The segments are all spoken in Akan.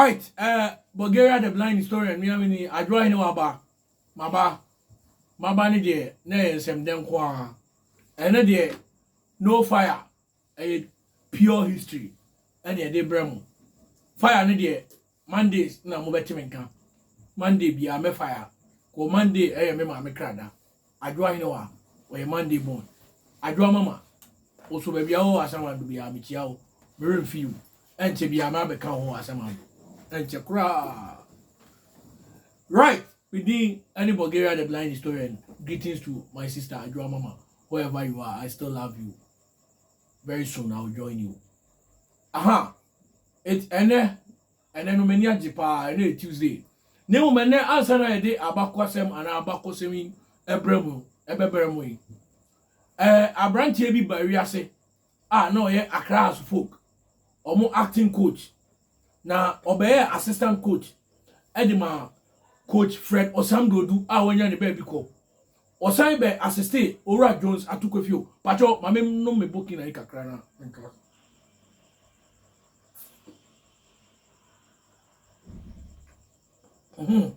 Right eh Bulgaria the blind historian nua me ni Adwoa hene waba maba maba ne deɛ na ɛyɛ nsɛmdɛ nko ara ɛno deɛ no fire ɛyɛ pure history ɛne ɛde brɛ mo fire no deɛ Mondays na mobɛte me nka Monday biara mɛ fire kɔ Monday ɛyɛ me maame krada Adwoa hene wa ɔyɛ Monday born Adwoa mama Oso baabi a ɔwɔ Asɛm Ado biara mekyia wo Meremfi wo ɛnkyɛ biara mɛabɛka wo ho Asɛm Ado ɛnkyɛ koraa Right Me din ɛne Bulgaria the blind historian Greetings to my sister Adwoa mama Wherever you are I still love you Very soon I will join you Aha Ɛnɛ Ɛnnɛ no m'ani agye paa, ɛnnɛ yɛ Tuesday, na mmom ɛnnɛ ansa na yɛde abakoasɛm anaa abakɔsɛm yi ɛbrɛ mu no, ɛbɛbrɛ mo yi. Ɛɛ aberanteɛ bi ba wiase a na ɔyɛ Accra House Folk, wɔn acting coach, na ɔbɛyɛ assistant coach ɛde ma coach Fred Osam Dodu a wɔanya ne baabi kɔ. Ɔsan bɛ assiste Owura Jones Atukwefio, patwɔ ma me nom me bokina yi kakra na. Mhm.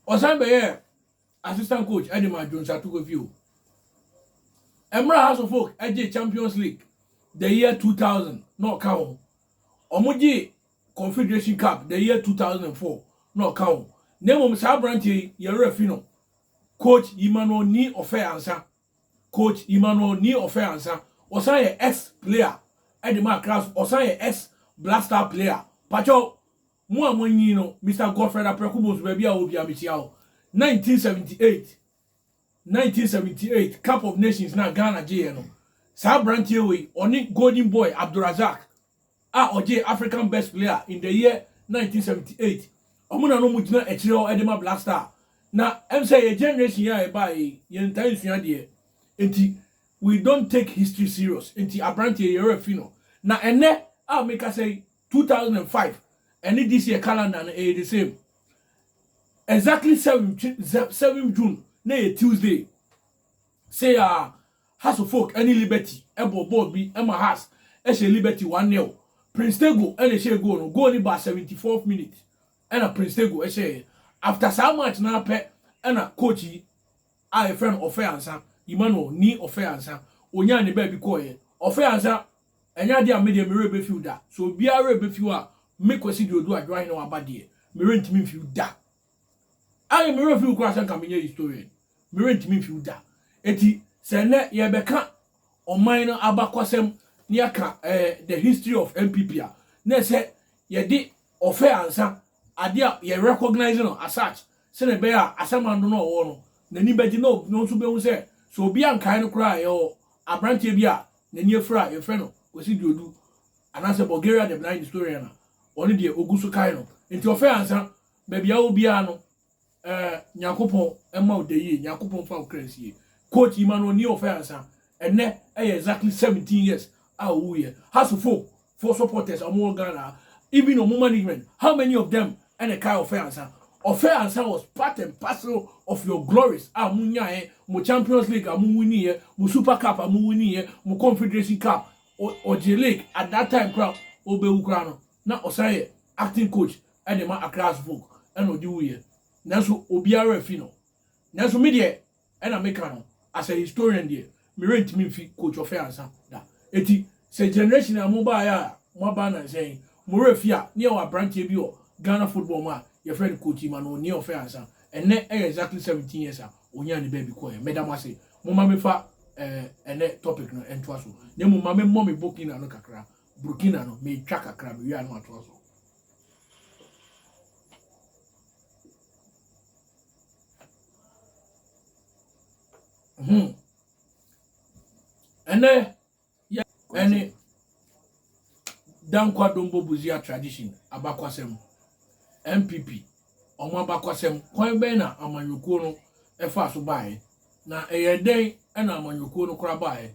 ɔsan bɛyɛɛ assistant coach de ma jones atokofi o ɛmmerɛ house of folk gye champions league the year 2000 na ɔka ho wɔgye confederation cup the year 2004 na ɔka ho na mmom saa aberanteɛ yi yɛwerɛ fi no coach emmanuel ni ɔfɛ ansa Coach Emmanuel Ni Ofei Ansah, ɔsan yɛ ex player de ma Accra nso ɔsan yɛ ex Black Star player. Pakyɛw, mo a moanyin no, Mister Godfred Apraku Bonsu baabi a ɔwɔ biara mekyia wo. 1978, 1978 Cup of Nations no a Ghana gyeeɛ no, saa aberanteɛ wei, ɔne Golden Boy Abdulrazak a ɔgyee African Best Player in the year 1978. Ɔmo na na ɔmo gyina akyire hɔ de ma Black Star. Na ɛm sɛ yɛ generation yi a yɛbaeɛ yi, yɛntaa nsua adeɛ. Nti we don't take history serious. Nti aberanteɛ yi yɛ werɛ fi no. Na ɛnnɛ a mekasa yi, 2005, ɛne this year calendar no ɛyɛ the same. Exactly 7 June na ɛyɛ Tuesday. Sei a Hearts of Oak ne Liberty bɔ bɔɔl bi ma Hearts hyɛ Liberty one nil. Prince Tego na ɛhyɛɛ goal no, goal no baa seventy fourth minute na Prince Tego hyɛɛɛ. After saa match no ara pɛ na coach yi a yɛfrɛ no Ɔfɛ Ansa, Emmanuel Ni Ɔfɛ Ansa, ɔnyaa ne baabi kɔeɛ. Ɔfɛ Ansa, ɛnyɛ adeɛ a me deɛ me werɛ bɛfiw da. Sɛ obiara werɛ bɛfiw a, me Kwasi Duodu Adwoahene Waba deɛ, me werɛ ntumi mfiw da. Ɛyɛ me werɛ fiw koraa sɛ nka menyɛ historian. Merentumi mfiw da. Enti sɛ nnɛ yɛrebɛka ɔman no abakɔsɛm na yɛaka eh, the history of NPP a, na ɛsɛ yɛde ɔfɛ ansa, ade a yɛ recognize no as such, sɛnea ɛbɛyɛ a Asamando no a ɔwɔ no, n'ani bɛgye na ɔno nso behu sɛ sɛ obi ankae no koraa a, yɛwɔ aberanteɛ bi a n'ani afura a yɛfrɛ no Kwasi Duodu anaasɛ Bulgaria the blind historian a ɔno deɛ ɔgu so kae no. Enti ɔfɛ ansa Baabi a wɔ biara no, eh, Nyankopɔn mma wo dayie, Nyankopɔn mfa wo kra nsie. Quote yi ma no ɔni ɔfɛ ansa. Ɛnɛ ɛyɛ exactly 17 years a ɔwuiɛ. Haso folk foɔ supporters a wɔn wɔ Ghana ha, even wɔn management, how many of them ɛna ɛkae ɔfɛ ansa? Ɔfɛ ansa was part and parcel of your glories a mo nyaeɛ, mo Champions League a mo winnieɛ, mo Super Cup a mo winnieɛ, mo Confederation Cup, ɔ, ɔgyee league at that time koraa a ɔbɛwu koraa no. na ɔsan yɛ acting coach de ma Accra Hearts folk na ɔde wuiɛ nanso obiara werɛ afi no. Nanso me deɛ ɛna meka no as a historian deɛ me werɛ ntumi mfi Coach Ɔfɛ Ansa da. Enti sɛ generation a mobaeɛ a moaba nnansa yi mo werɛ fi a na yɛwɔ abranteɛ bi wɔ Ghana football mu a yɛfrɛ no Coach Emmanuel Ɔfɛ Ansa. Ɛnnɛ ɛyɛ exactly seventeen years a ɔnyaa ne baabi kɔeɛ. Meda mo ase. Momma memfa ɛnnɛ topic no ntoa so na mmom ma memmɔ me bokina no kakra Burkina no metwa kakra mewie a na matoa so. Hmm. ɛnɛ yɛ ɛne dankwa dombo buzia tradition abakwasɛm npp wɔn abakwasɛm kwan bɛn na amanyɔkuo no ɛfa so baeɛ na ɛyɛ dɛn ɛna amanyɔkuo no kora baeɛ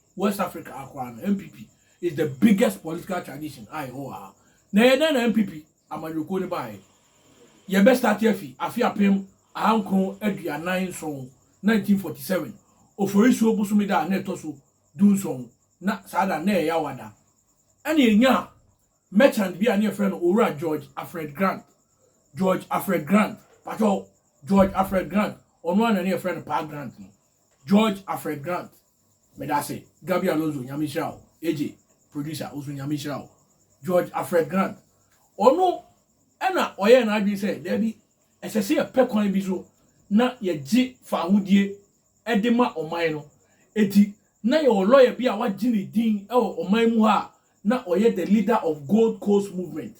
West Africa ha koraa no, NPP is the biggest political tradition a yɛwɔ wɔ ha. Na ɛyɛ dɛn na NPP amanyɔkuo no baeɛ? Yɛbɛ starte afi afe apem ahankron aduanan nson, 1947, Oforisuo bosome da a na ɛtɔ so du nson, na saa da no na ɛyɛ awa da, ɛna yɛnyaa merchant bi a na yɛfrɛ no Owura George Alfred Grant, George Alfred Grant, patwɔ, George Alfred Grant, ɔno ara na na yɛfrɛ no Paa Grant no, George Alfred Grant. Medase Gabi Alonso Nyame nhyira wo AJ producer wo so Nyame nhyira wo George Alfred Grant ɔno ɛna ɔyɛɛ n'adwene sɛ daabi ɛsɛ sɛ yɛpɛ kwan bi so na yɛgye faahodie ɛde ma ɔman no eti na yɛwɔ lɔya bi a wagye ne din ɛwɔ ɔman mu ha a na ɔyɛ the leader of Gold Coast movement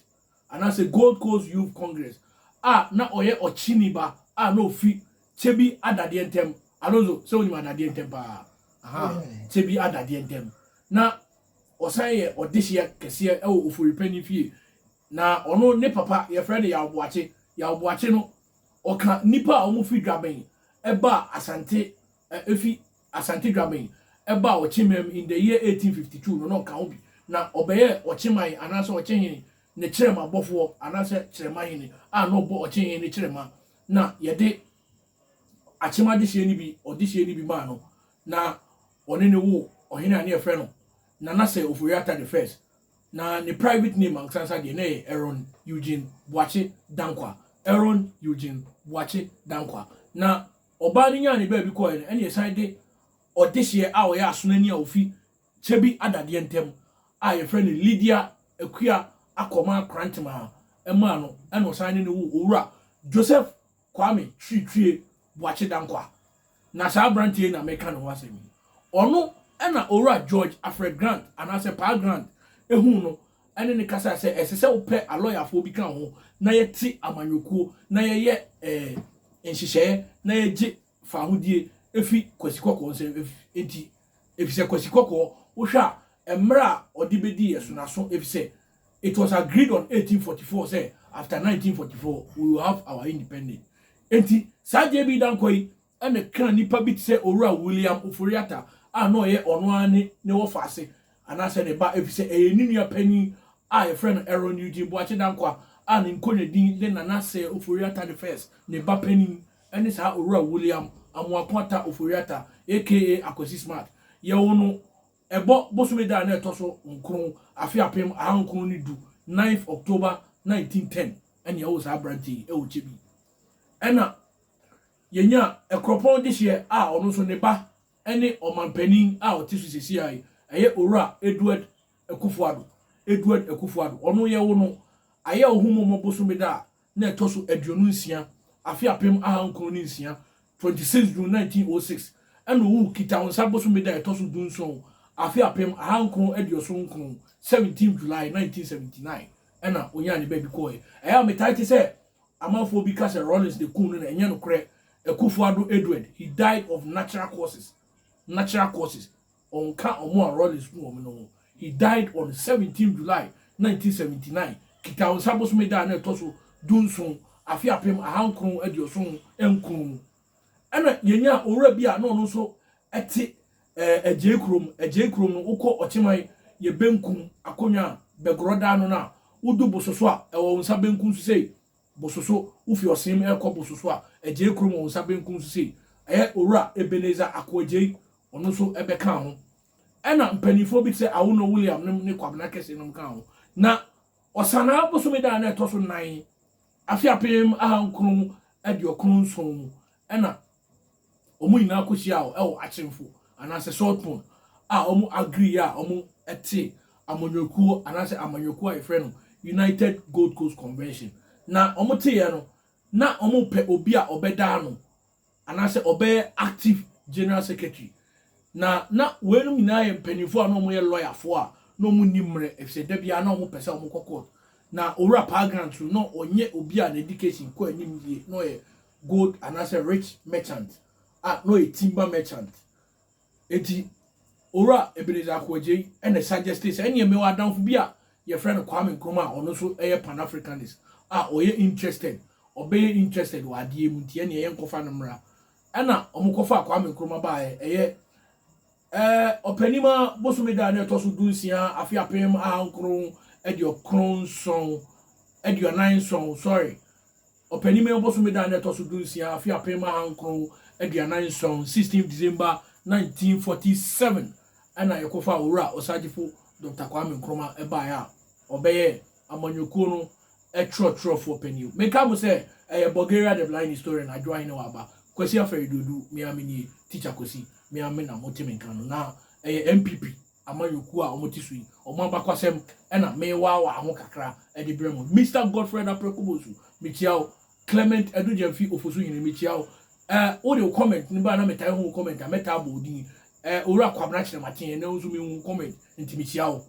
anaasɛ Gold Coast Youth Congress a na ɔyɛ ɔkyeni ba a na ofi Kyebi Adadeɛ Ntam, Alonso sɛ wonim Adadeɛ Ntam paa, aha, Kyebi Adadeɛ Ntam, na ɔsan yɛ ɔdehyeɛ kɛseɛ wɔ Ofori Panin fie, na ɔno ne papa yɛfrɛ no Yaw Boakye, Yaw Boakye no ɔka nnipa a wɔfi Dwaben ɛbaa Asante, ɛfi Asante Dwaben baa ɔkyemamu in the year 1852 no na ɔka ho bi na ɔbɛyɛɛ ɔkyemae anaasɛ ɔkyehene ne kyerɛma bɔfoɔ anaasɛ kyerɛmahene a na ɔbɔ ɔkyehene ne kyerɛma na yɛde akyema dehyeɛ no bi ɔdehyeɛ no bi maa no na ɔne ne wo ɔhene a ne yɛfrɛ no Nana Sir Ofori-Atta the first na ne private name ankesansa deɛ na ɛyɛ Aaron Eugene Boakye Dankwa Aaron Eugene Boakye Dankwa na Ɔbaa no nyaa ne baabi kɔe no, ɛnna yɛsan de ɔdehyeɛ a ɔyɛ asonani a ofi Kyebi Adadeɛ ntam a yɛfrɛ no Lydia Akua Akormaa Krantemaa maa no, ɛnna ɔsan ne no woo Owura Joseph Kwame Twiritwie Boakye Dankwa. Na saa aberanteɛ yi na meka ne ho asɛm yi. Ɔno na Owura George Alfred Grant anaasɛ Paa Grant huu no ne no kasae sɛ ɛsɛ sɛ wopɛ alɔyafoɔ bi ka wo ho na yɛte amanyɔkuo na yɛyɛ nhyehyɛeɛ na yɛgye faahodie fi Kwasi Kɔkɔɔ nsam nti efisɛ Kwasi Kɔkɔɔ wohwɛ a mmerɛ a ɔde bɛdii yɛ so no aso efisɛ it was agreed on 1844 sɛ after 1944 we will have our independence nti saa JB Dankwa yi ɛna ɛkaa nnipa bi te sɛ Owura William Ofori-Atta a na ɔyɛ ɔno ara ne ne wɔfaase anaasɛ ne ba efisɛ ɛyɛ ne nua panyin a wɔfrɛ no Aaron Eugene Boakye Dankwah a ne nkonnwa din de Nana Sir Ofori-Atta the First, ne ba panyin ne saa Owura William Amoako Atta Ofori-Atta aka Akwasi Smart. Yɛwoo no ɛbɔ bosome da a na ɛtɔ so nkron afe apem ahankron ne du, ninth October nineteen ten, ɛna yɛwoo saa aberanteɛ yi ɛwɔ Kyebi. Ɛna. Yɛnyaa kuropɔn dehyeɛ a ɔno nso ne ba ne ɔmanpanin a ɔte so seesei ara yi, ɛyɛ Owura Edward Akuffo Addo, Edward Akuffo Addo. Ɔno yɛwo no Ayɛwohommommɔ bosome da a na ɛtɔ so aduonu nsia, afe apem ahankron ne nsia, 26 June 1906, ɛna ɔwuu Kitawonsa bosome da a ɛtɔ so dunson, afe apem ahankron aduoson nkron, 17 July 1979, ɛna ɔnyaa ne baabi kɔɔɛ. Ɛyɛ a metaa te sɛ Amanfoɔ bi ka sɛ Rawlings na ɛkum no na ɛnyɛ nokorɛ, Akuffo Addo Edward, he died of natural causes, natural causes, ɔnka wɔn a Rawlings kum wɔn no ho, he died on seventeen July nineteen seventy nine, Kitaonsa bosome da a na ɛtɔ so du nson, afe apem aha nkron aduoson nkron mu. Ɛna yɛnyaa owura bi a na ɔno nso te eh, agyei kurom. Agyei kurom no, wokɔ ɔkyeman yɛ benkum akonnwa a bɛgorɔ daa no no a, wodu bososo a, ɛwɔ wo nsa benkum so sei. Bososo, wofi ɔseem ɛrekɔ bososo a, agyei kurom wɔ wo nsa benkum so sei. Ɛyɛ owura Ebenezer Akoagyei, ɔno nso ɛbɛkaa ho. Ɛna mpanimfoɔ bi te sɛ Awono William nom ne Kwabena Kɛse nom kaa ho. Na Ɔsanaa bosome da a na ɛtɔ so nan Afe apem ahankron aduokron nson mu na wɔn nyinaa kohyiaa hɔ wɔ Akyemfo anaasɛ Saltpond a wɔn agree a wɔte amanyɔkuo anaasɛ amanyɔkuo a yɛfrɛ no United Gold Coast Convention. Na wɔteeɛ no, na wɔpɛ obi a ɔbɛda ano anaasɛ ɔbɛyɛ active general secretary. Na na weinom nyinaa yɛ mpaninfoɔ a na wɔyɛ lɔyafoɔ a na wɔn nni mmerɛ efisɛ da biara na wɔn pɛ sɛ wɔn kɔ court. Na Owura Pargrant nso na ɔnyɛ obi a n'education kɔ anim yie, na ɔyɛ gold anaasɛ rich merchant a na ɔyɛ timber merchant. Enti Owura Ebenezer Akoh Adjei na suggestee sɛ ɛneɛ mewɔ adamfo bi a yɛfrɛ no Kwame Nkrumah a ɔno nso yɛ Pan-Africanist a ɔyɛ interested, ɔbɛyɛ interested wɔ adeɛ yi mu nti ɛneɛ yɛnkɔfa no mmra. Ɛna wɔkɔfaa Kwame Nkrumah baeɛ, ɛyɛ eh, ɔpanim ara bosome da a na ɛtɔ so du nsia afe apem aha nkron aduokron nson, aduanan nson, sorry, Ɔpɛnimɛn bosome da a na ɛtɔ so dunsia afe apem ahankron aduanan nson, 16 December 1947, na yɛkɔfaa Owura Osagyefo Dɔkta Kwame Nkrumah baeɛ a ɔbɛyɛɛ amanyɔkuo no twerɛtwerɛfoɔ panin. Mekae mo sɛ ɛyɛ Bulgaria the blind historian Adwo Ahenewa Aba, Kwasi Afɛre Duodu, me ara menie, Teacher Kwasi, me ara me na mote me nka no, na ɛyɛ NPP amanyɔkuo a wɔte so yi, wɔn abakwasɛm na mewaawaa ho kakra de brɛ mo. Mister Godfred Apreko Bonsu, mekyia wo. Clement Adu Gyamfi Ofosuhene, mekyia wo. Eh, wode wo comment no baa na metae hu wo comment a, mɛtaa bɔ wo din. Eh, Owura Kwabena Kyerɛmaten, ɛnɛ nso mehu wo comment, nti mekyia wo.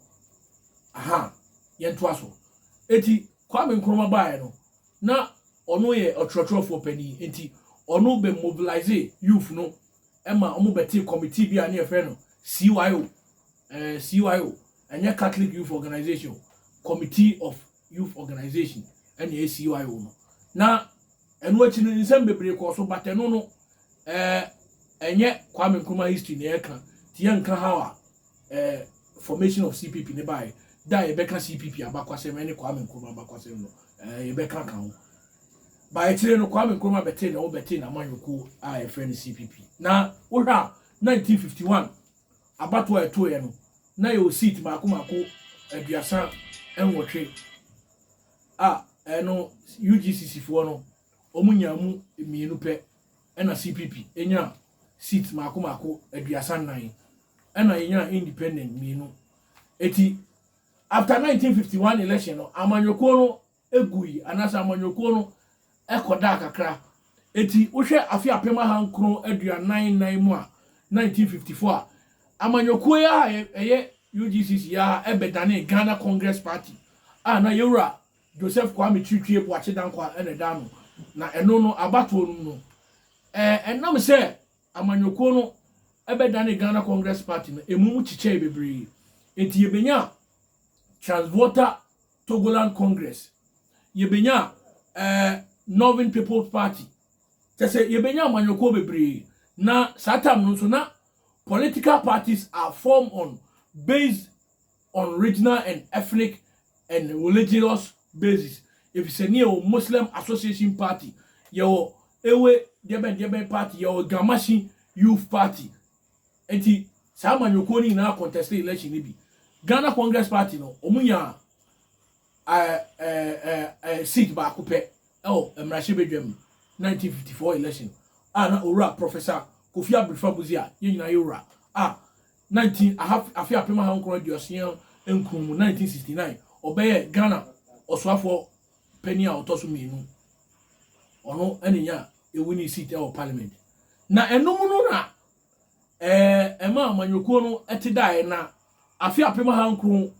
Aha, yɛntoa so. Eti, Kwame Nkrumah baeɛ no, na ɔno yɛ ɔtwerɛtwerɛfoɔ panin, nti ɔno bɛ mobilise youth no ma wɔbɛtee kɔmitii bi a ne yɛfrɛ no CYO, eh, CYO, ɛnyɛ Catholic Youth Organization, Committee of Youth Organization, ɛna ɛyɛ CYO no. Na ɛno akyi no nsɛm bebree kɔɔ so, but ɛno no, eh, ɛnyɛ Kwame Nkrumah history na yɛka, nti yɛnka how a eh, formation of CPP ne bae, da a yɛbɛka CPP abakwasɛm ne Kwame Nkrumah abakwasɛm no, eh, yɛbɛka ka ho. Ba akyire no Kwame Nkrumah bɛtee na wɔbɛtee n'amanyɔkuo a yɛfrɛ no CPP. Na wohwɛ a 1951 abato a ɛtoeɛ no, na yɛwɔ seat mako mako aduasa nwɔtwe a ɛno UGCC foɔ no wɔn nyaa mu mmienu pɛ ɛna CPP nyaa seat mmaako mmaako aduasa nnan, ɛna yɛnyaa independent mmienu. Eti after 1951 election no, amanyɔkuo no gui anaasɛ amanyɔkuo no kɔdaa kakra. Eti wohwɛ afe apem aha nkron aduanan nnan mu a 1954 a, amanyɔkuo yi a ɛyɛ UGCC yi a ɛbɛdanee Ghana Congress Party a na yɛwura Joseph Kwame Twitwie Boakye Dankwah na ɛdaa no, na ɛno no abatoɔ no mu no, ɛnam sɛ amanyɔkuo no bɛdanee Ghana Congress Party no, ɛmu mu kyekyɛɛe bebree, enti yɛbɛnyaa Transvolta Togoland Congress, yɛbɛnyaa eh, Northern People's Party, kyɛ sɛ yɛbɛnyaa amanyɔkuo bebree, na saa tam no nso na political parties are formed on based on regional and ethnic and religious basis efisɛ ne yɛwɔ Muslim Association Party, yɛwɔ Ewe deɛbɛn deɛbɛn party, yɛwɔ Gamashi Youth Party. Nti saa amanyɔkuo no nyinaa contested election no bi. Ghana Congress Party no, wɔn nyaa eh, eh, eh, eh, seat baako pɛ ɛwɔ mmarahyɛbadwam 1954 election a na owura Professor Kofi Abirifa Buzi a yɛn nyinaa yɛ wura a 19 aha afe apem aha nkron aduosia nkron mu, 1969, ɔbɛyɛɛ Ghana Ɔsoafoɔ Panin a ɔtɔ so mmienu. Ɔno na nya winning seat wɔ parliament. Na ɛno mu no na ɛɛ ɛma amanyɔkuo no te daeɛ na afe apem aha nkron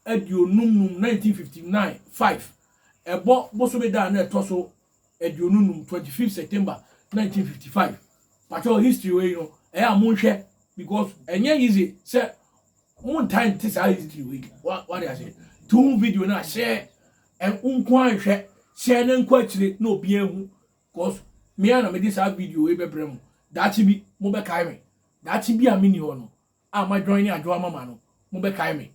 aduonum num, 1959, 5, ɛbɔ bosome da a na ɛtɔ so aduonu num twenty fifth September nineteen fifty five patrɔ history wei no ɛyɛ a mo nhwɛ because ɛnyɛ easy sɛ mo ntaa nte saa history wei wa wa de ase tum video na ahyɛ nko anhwɛ hyɛ ne nko akyire na obi ehu because me a na me de saa video wei bɛbrɛ mo daakye bi mo bɛkae me daakye bi a me ni hɔ no a madwan ne adwoa mama no, mobɛkae me.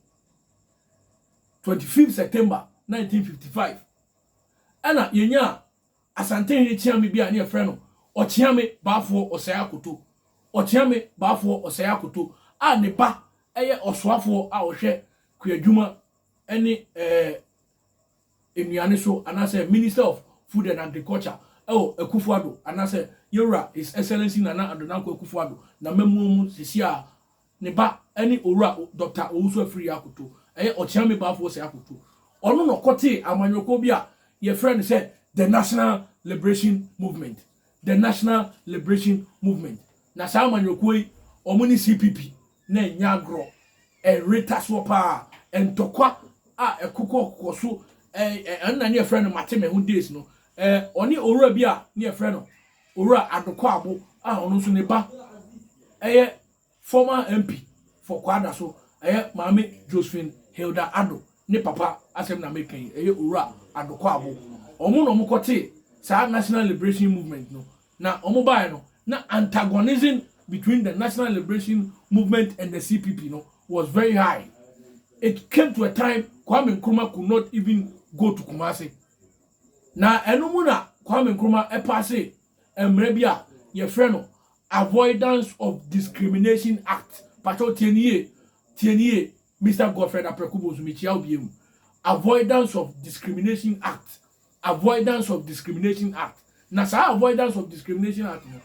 25 September 1955, ɛna yɛnyaa Asantehene Kyeame bi a ne yɛfrɛ no Ɔkyeame Baafoɔ Ɔsɛe Akoto, Ɔkyeame Baafoɔ Ɔsɛe Akoto, a ne ba yɛ ɔsoafoɔ a ɔhwɛ kuadwuma ne ɛɛ. nnuane so anaasɛ Minister of Food and Agriculture ɛwɔ Akufo Addo anaasɛ Yewura His Excellency Nana Addo Dankwa Akufo Addo n'amammuo mu sesie a ne ba ɛne Owura Doctor Owusu Afriyie Akoto ɛyɛ Ɔkyeame Baafoɔ Sɛ Akoto ɔno na ɔkɔtee amanyɔkuo bi a yɛfrɛ no sɛ The National Liberation Movement The National Liberation Movement na saa amanyɔkuo yi wɔn ne CPP na ɛnyɛ agorɔ. Ɛyere tasoɔ pa ara. Ntɔkwa a ɛkokɔkokɔ so, ɛɛ, ɛno na ne yɛfrɛ no mate me ho days no. Ɛɛ, ɔne owura bi a ne yɛfrɛ no Owura Adokwaabo a ɔno nso ne ba ɛyɛ former MP for Kwada so, ɛyɛ Maame Josephine Hilda Addo ne papa asɛm na meka yi, ɛyɛ Owura Adokwaabo. Wɔn na wɔkɔtee saa National Liberation Movement no Na wɔn baeɛ no, na antagonism between the National Liberation Movement and the CPP no was very high. It came to a time Kwame Nkrumah could not even go to Kumasi. Na ɛno mu na Kwame Nkrumah ɛpaase mmara bi a yɛfrɛ no Avoidance of Discrimination Act. Pakyɛw tie no yie, tie no yie, Mister Godfred Apraku Bosu, mekyia wo bio. Avoidance of Discrimination Act, Avoidance of Discrimination Act. Na saa Avoidance of Discrimination Act no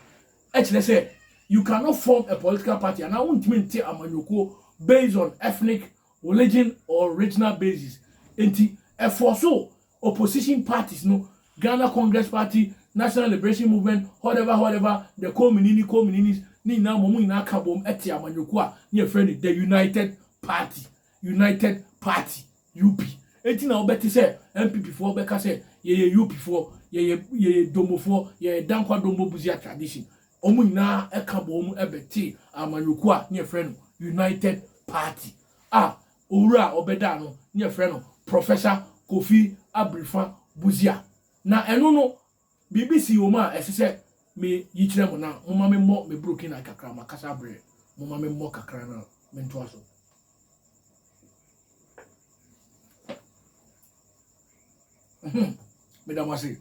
kyerɛ sɛ you cannot form a political party anaa wontumi nte amanyɔkuo based on ethnic, religion or regional basis. Enti ɛfɔɔso Opposition parties no, Ghana Congress Party, National Liberation Movement, whatever whatever, the Kominini, Komininis, ne nyinaa mmom, wɔn nyinaa ka bom te amanyɔkuo a na yɛfrɛ no The United Party, United Party, UP. Enti na wobɛte sɛ NPP foɔ bɛka sɛ yɛyɛ UP foɔ, yɛyɛ yɛyɛ Dombo foɔ, yɛyɛ Dankwa Dombo Busia Tradition. Wɔn nyinaa ka bom bɛte amanyɔkuo a na yɛfrɛ no United Party a Owura a ɔbɛdaa no ne yɛfrɛ no Prɔfɛsa Kofi Abirifa Busia. Na ɛno no, biribi sii wɔ mu a ɛsɛ sɛ me yi kyerɛ mo na momma me mmɔ me Burukina kakra, makasa abrɛ, momma me mmɔ kakra na me ntoa so. Ahem, meda mo ase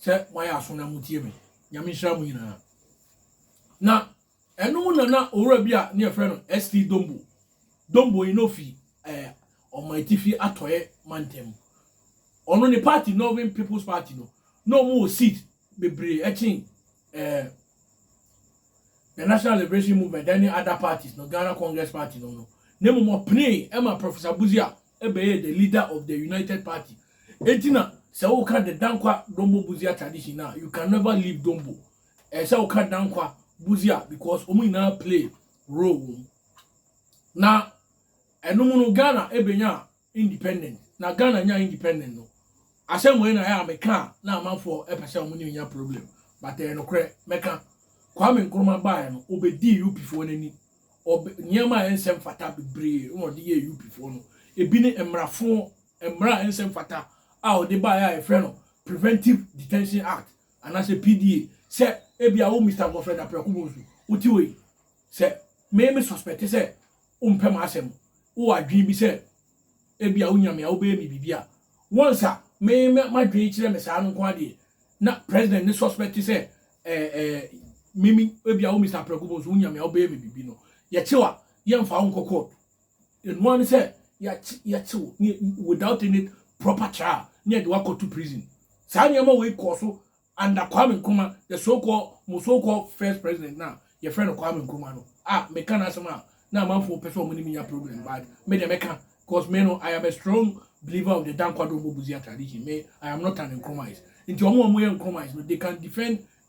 sɛ moayɛ aso na motie me. Nyame nhyira mo nyinaa. Na Ɛno mu na na owura bi a ne yɛfrɛ no ST. Dombo. Dombo yi na ofi eh, Ɔman Atifi Atɔeɛ mantam mu. Ɔno ne party Northern People's Party no, na wɔn wɔ seat bebree ɛkyen eh, the National Liberation Movement ɛne other parties no, Ghana Congress Party nom no. Na mmom ɔpenee ɛma Professor Busia ɛbɛyɛɛ the leader of the United Party. Enti na sɛ woka the Dankwa Dombo Busia tradition no a, you can never leave Dombo. Ɛyɛ sɛ woka Dankwa, Busia because wɔn nyinaa play role wɔ mu. Na ɛno mu no Ghana ebenya independent. Na Ghana nya independent no asɛm wei na ɛyɛ a meka a na amanfoɔ pɛ sɛ wɔn ne nya problem but ɛyɛ nokorɛ mɛka Kwame Nkrumah baeɛ no ɔbɛdii UPfoɔ no ani nneɛma a ɛnsɛ mfata bebree na ɔde yɛ UPfoɔ no ebi ne mmarafoɔ mmara a ɛnsɛ mfata a ɔde baeɛ a yɛfrɛ no Preventive Detention Act Anaasɛ PDA, sɛ ebia wo Mister Godfred Aprakubo nso, wote wei? Sɛ me me suspecte sɛ wompɛ m'asɛm, wowɔ adwene bi sɛ ebia wo Nyame a wobɛyɛ me biribi a, once a me me m'adwene kyerɛ me saa no nko ara deɛ, na President no suspecte sɛ eh eh me me ebia wo Mister Aprakubo nso wo Nyame a wobɛyɛ me biribi no, yɛkye wo a, yɛmfa wo nkɔ court. Ɛnoa ne sɛ yɛkye wo without any proper trial ne yɛde wakɔto prison. Saa nneɛma wei kɔɔ so under Kwame Nkrumah, the so called mo so called first president na yɛfrɛ no Kwame Nkrumah no. Ah, meka n'asɛm a na amanfoɔ pɛ sɛ ɔmo ne menya problem but me deɛ mɛka because me no I am a strong believer of the Dankwadom Bobozia tradition. Me I am not an Nkrumahist. Nti ɔmo a ɔmo yɛ Nkrumahist no they can defend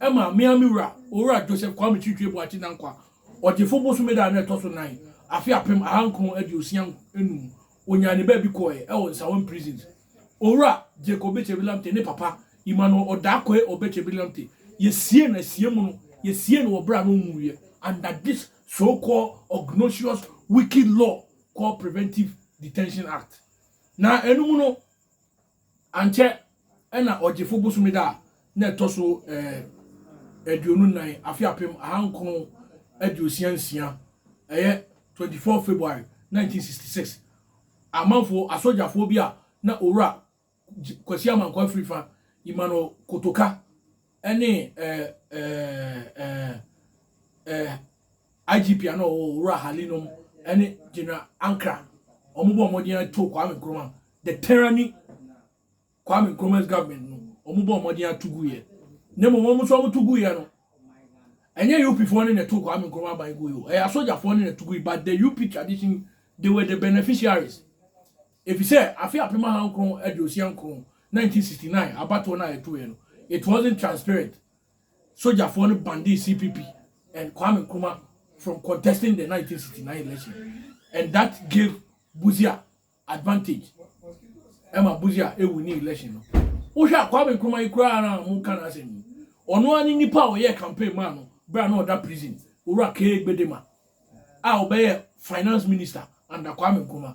Ɛma me ara me wura, Owura Joseph Kwame Chiritiri Boakye Nankwa, Ɔgyefo bosome da a na ɛtɔ so nan, afe apem ahankron aduosia nnum, onyaa ne baabi kɔɔɛ wɔ Nsawam Prisons. Owura Jake Obechebir Lamptey ne papa, Emmanuel Odakoe Obechebir Lamptey, yɛsiee no asie mu no, yɛsiee no wɔ berɛ a na ɔnwuiɛ, under this so called obnoxious wicked law called Preventive Detention Act. Na ɛno mu no, Ankyɛ na Ɔgyefo bosome da a na ɛtɔ so aduonu nnan, afe apem ahankron aduosia nsia, ɛyɛ 24 February 1966, amanfo asogyafoɔ bi a na Owura Kwasi Amankwah firi fa, Emmanuel Kotoka, ɛne ɛɛ ɛɛ ɛɛ ɛɛ IGP ano ɔwɔ Owura Hali nom ɛne General Ankra wɔn bɔ wɔn den to Kwame Nkrumah the tyranny Kwame Nkrumah's government no wɔn bɔ wɔn den ato gu yɛ ne mu wɔn nso wɔn to gu yɛ no ɛnyɛ UP foɔ ne na to Kwame Nkrumah ban gu yɛ o ɛyɛ asogyafoɔ ne na to gu yi but the UP tradition they were the beneficiaries. Efisɛ afe apem ahankron aduosia nkron, 1969, abatoɔ no a ɛtoeɛ no, it wasn't transparent, sogyafoɔ no banned CPP and Kwame Nkrumah from contesting the 1969 election and that gave Busia advantage ɛma Busia ɛwinni election no. Wohwɛ a Kwame Nkrumah yi koraa no a moka n'asɛm yi, ɔno ara ne nnipa a ɔyɛɛ campaign maa no berɛ a na ɔda prison, Owura K. Gbedema a ɔbɛyɛ finance minister under Kwame Nkrumah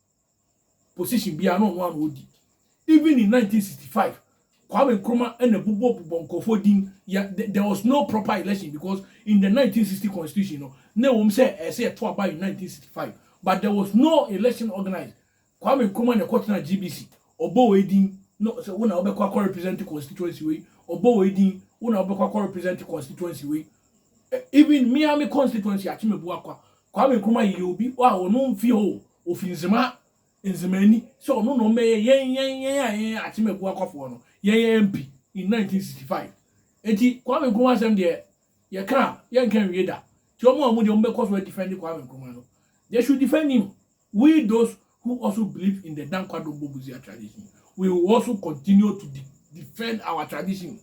position biara na ɔno ara na ɔdi. Even in nineteen sixty five, Kwame Nkrumah na bobɔ bobɔ nkurɔfoɔ din yɛ the there was no proper election because in the nineteen sixty constitution no na ɛwɔ mu sɛ ɛsɛ yɛto aba in nineteen sixty five but there was no election organised. Kwame Nkrumah na ɛkɔtenaa GBC ɔbɔ wei din na ɔsɛ wo na wobɛkɔ akɔ represent constituency wei ɔbɔ wei din wo na wobɛkɔ akɔ represent constituency wei Even me ara me constituency Akyemabua kwa, Kwame Nkrumah yeyɛ obi a ɔno mfi hɔ o, ofi Nzema, Nzemani, sɛ ɔno na ɔmmɛyɛ yɛn yɛn yɛn a yɛn Akyemabua kwafoɔ no, yɛn MP in 1965. Enti Kwame Nkrumah asɛm deɛ yɛka a yɛnka nwie da. Nti wɔn a wɔn deɛ wɔbɛkɔ so adefend Kwame Nkrumah no, they should defend him We those who also believe in the Dankwa-Dombo Busia tradition, we will also continue to de defend our tradition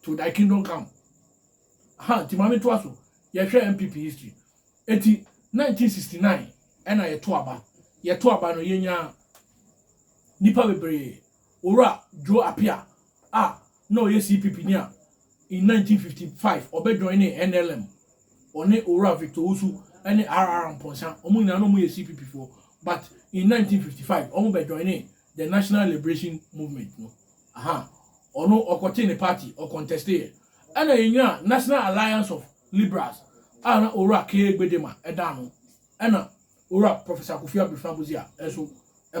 to thy kingdom come. Ha, nti maame to aso, yɛhwɛ MPP history. Eti 1969 ɛna yɛto aba, yɛto aba no yɛnya nipa bebree Owura Joe Appiah a na ɔyɛ CPP ni a, in nineteen fifty five ɔbɛ joinee NLM. Ɔne Owura Victor Owusu ne RR Amponsah, wɔn nyinaa na wɔyɛ CPP foɔ but in nineteen fifty five wɔn bɛ joinee the National Liberation Movement no. Aha, ɔno ɔkɔtee ne party, ɔcontesteeɛ. Ɛna yɛnyaa National Alliance of Liberals a na Owura K. Gbedema da ano. Ɛna Owura Professor Kofi Abrefa Budzia nso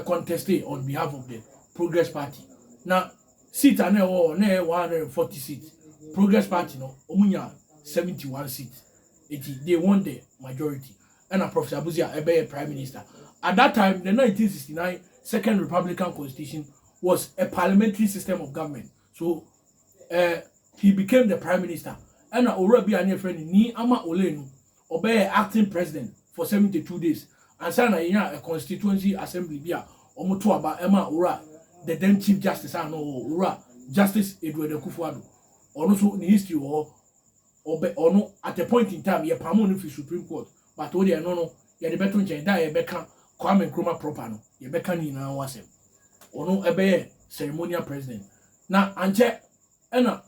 contestee on behalf of the Progress Party. Na seat a na ɛwɔ hɔ na ɛyɛ 140 seat. Progress Party no, wɔn nya 71 seat. Eti they won the majority. Ɛna Professor Abudzia ɛbɛyɛ Prime Minister. At that time, the 1969 Second Republican Constitution was a parliamentary system of government. So eh he became the prime minister ɛna owura bi a ne yɛfrɛ no Nii Ama Oley no ɔbɛyɛɛ acting president for seventy two days ansa na yɛnyaa a constituency assembly bi a wɔto aba ɛmaa owura the then chief justice a na ɔwɔ hɔ owura Justice Edward Akufo-Addo ɔno nso ne history wɔ hɔ ɔbɛ ɔno at a point in time yɛ pamo no firi supreme court but wo deɛ ɛno no yɛde bɛto nkyɛn da a yɛbɛka Kwame Nkrumah proper no yɛbɛka ne nyinaa ho asɛm ɔno ɛbɛyɛ ceremonial president na ankyɛ ɛna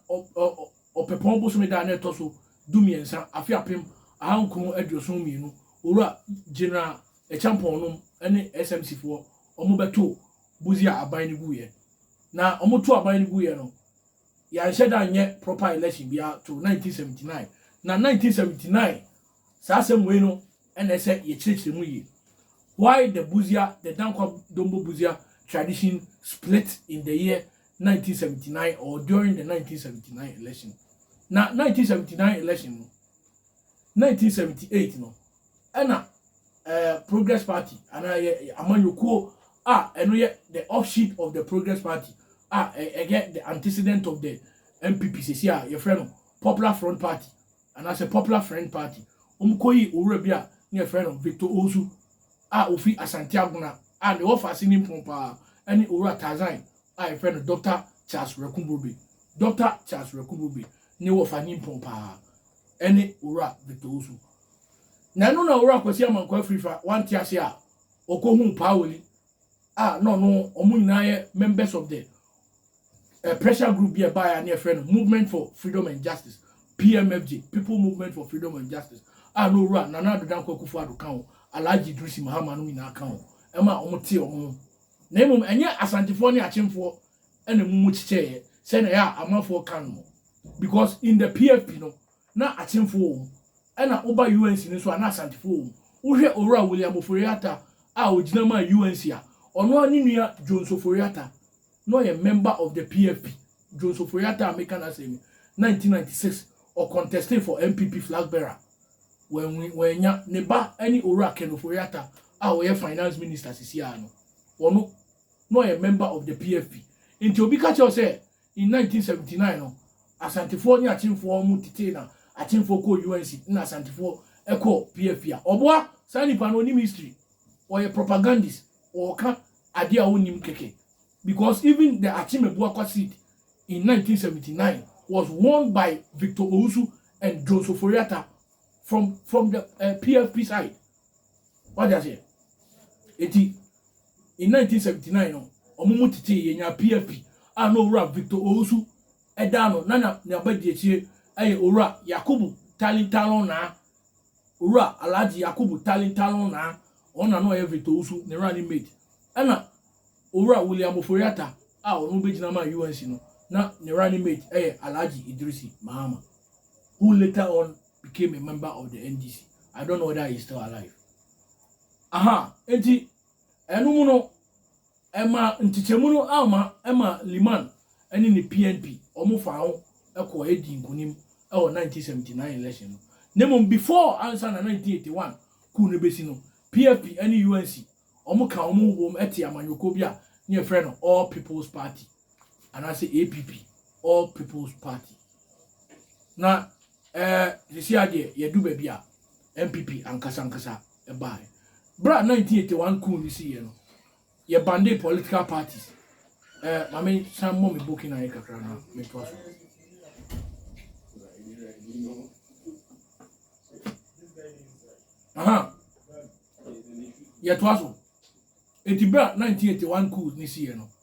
ɔpɛpɔn bosome da a na ɛtɔ so du mmiɛnsa afe apem aha nkron aduoson mmienu owura general ɛkyampɔn nom ne SMC foɔ wɔn bɛto buzi a aban no guiɛ na wɔn to aban no guiɛ no Yɛanhyɛ da nyɛ proper election biara to 1979. Na 1979 saa asɛm wei no na ɛsɛ yɛkyerɛkyerɛ mu yie. Why the Busia, the Dankwa Dombo Busia tradition split in the year 1979 or during the 1979 election. Na 1979 election no, 1978 no, ɛna ɛɛ eh, progress party anaa yɛ amanyɔkuo a ɛno yɛ the offshoot of the progress party a ɛyɛ the antecedent of the npp sisi a yɛfrɛ no popular front party anaasɛ popular friend party wɔn kɔ yi owura bi a ne yɛfrɛ no victor osu a ofi asante agona a ne wɔfa ase ne mpɔn paa ɛne owura tazan a yɛfrɛ no dr charles rekuburube dr charles rekuburube ne wɔfa ne mpɔn paa ɛne owura victor osu Na ɛno na Owura Kwasi Amankwah Afirifa wante ase a ɔkɔhuu Paa Woli a na ɔno wɔn nyinaa yɛ members of the uh, pressure group bi a ɛbaeɛ a ne yɛfrɛ no Movement for Freedom and Justice PMFJ People Movement for Freedom and Justice a na Owura Nana Ado Dankwa Akufo-Addo ka ho Alhaji Idrisi Mahama no nyinaa ka ho ɛma wɔn tee wɔn ho na mmom ɛnyɛ Asantefoɔ ne Akyemfoɔ ɛna mu mu kyekyɛeɛ sɛnea ɛyɛ a amanfoɔ ka no because in the PFP no na Akyemfo wɔ mu, ɛna woba UNC no nso a na Asantefo wɔ mu. Wohwɛ Owura William Ofori Atta a ogyina maa UNC a, ɔno ara ne nua Jones Ofori Atta, na ɔyɛ member of the PFP. Jones Ofori Atta a meka n'asɛm yi, nineteen ninety six ɔcontestee for NPP flag bearer, wanwin, wannya. Ne ba ne Owura Ken Ofori Atta a ɔyɛ finance minister sisi ara no, ɔno, na ɔyɛ member of the PFP. Nti obi ka kyerɛ wo sɛ In 1979 no, Asantefoɔ ne Akyemfoɔ mo tetee na Akyemfoɔ kɔɔ UNC na Asantefoɔ kɔɔ PFP a ɔboa saa nipa no ɔnim history ɔyɛ propagandist ɔɔka adeɛ a ɔnnim kɛkɛ because even the Akyem Abuakwa seed in 1979 was won by Victor Owusu and Jones Ofori-Atta from from the uh, PFP side Wate aseɛ? Enti, in 1979 no, wɔn mu tetee yɛnyaa PFP a na Owura Victor Owusu da ano, na na n'abadiakyire yɛ Owura Yakubu Tallin Tallon Naa, Owura Alhaji Yakubu Tallin Tallon Naa, wɔn na na ɔyɛ Victor Owusu ne running mate, ɛna Owura William Ofori-Atta a ɔno bɛgyina maa UNC no, na ne running mate yɛ Alhaji Idrisi Mahama, who later on became a member of the NDC. I don't know whether he's still alive. Aha, enti ɛno mu no ɛma nkyekyɛmu no ama ɛma Liman ɛne ne PNP wɔn fa ho ɛkɔ ɛdi nkunim ɛwɔ 1979 election no. Ne mu before ansa na 1981 kuu no besi no, PFP ɛne UNC wɔn ka wɔn ho bom ɛte amanyɔkuo bi a ne yɛfrɛ no All People's Party. anaasɛ APP, All People's Party. Na ɛɛ sisi adeɛ yɛdu baabi a NPP ankasa ankasa ɛbaaɛ. Berɛ a 1981 coup no si yɛ no, yɛ bande political parties. Ɛɛ ma me san mmɔ me booking ayɛ kakra na me to aso. Aha. Yɛtoa so. Enti berɛ a 1981 coup no si yɛ no,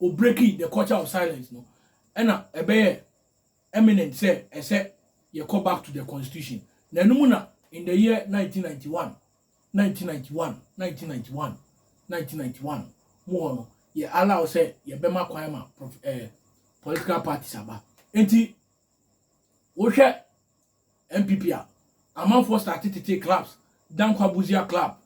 o breaki the culture of silence no ɛna ɛbɛyɛ eminent sɛ ɛsɛ yɛkɔ back to the constitution na ɛno mu na in the year 1991 1991 1991 1991 mu hɔ no yɛ allow sɛ yɛbɛma kwan ma eh, political parties aba nti wohwɛ NPP a amanfoɔ starte tetee clubs, Dankwa Busia club,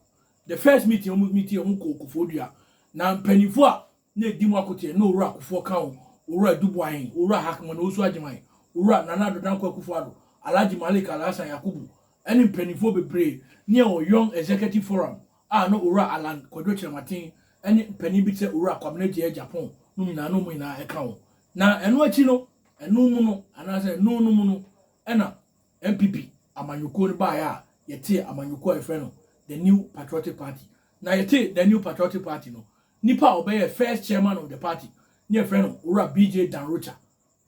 the first meeting a wɔn meeting wɔn kɔɔ Kofoɔ Dua, na mpaninfoɔ a na edi mu akoteɛ na Owura Akufoɔ ka ho, Owura Duboahen, Owura Hakman Owusu Agyeman, Owura Nana Addo Dankwa Akufo Addo, Alhaji Malik Alhassan Yakubu ɛne mpaninfoɔ bebree ne ɛwɔ Young Executive Forum a na Owura Allan Kwadwo Kyerematen ɛne mpanin bi te sɛ Owura Kwabena Gyeyɛ Gyapon nom nyinaa na wɔn nyinaa ɛka ho. Na ɛno akyi no, ɛno mu no, anaasɛ ɛno no mu no, ɛna NPP amanyɔkuo no baeɛ a yɛtee amanyɔkuo a yɛfrɛ no The New Patriotic Party. Na yɛtee The New Patriotic Party no, nipa a ɔbɛyɛ first chairman of the party ne yɛfrɛ no Owura BJ Danrocha,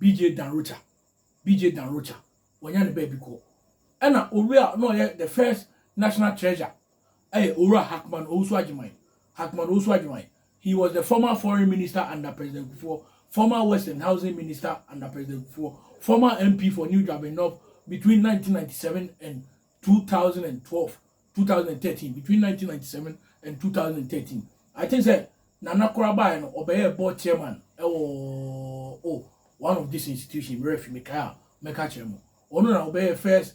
BJ Danrocha, BJ Danrocha, wɔnya ne baabi kɔ. Ɛna owura a na ɔyɛ the first national treasurer yɛ Owura Hackman Owusu Agyeman, Hackman Owusu Agyeman. He was the former Foreign Minister under President Kufuor, former Works and Housing Minister under President Kufuor, former MP for New Juaben North between 1997 and 2012, 2013, between 1997 and 2013. I think sɛ Nana Kora baeɛ no, ɔbɛyɛ board chairman ɛwɔ oh, one of this institution, mmerɛ fi mekae a mɛka kyerɛ mo. Ɔno na ɔbɛyɛ first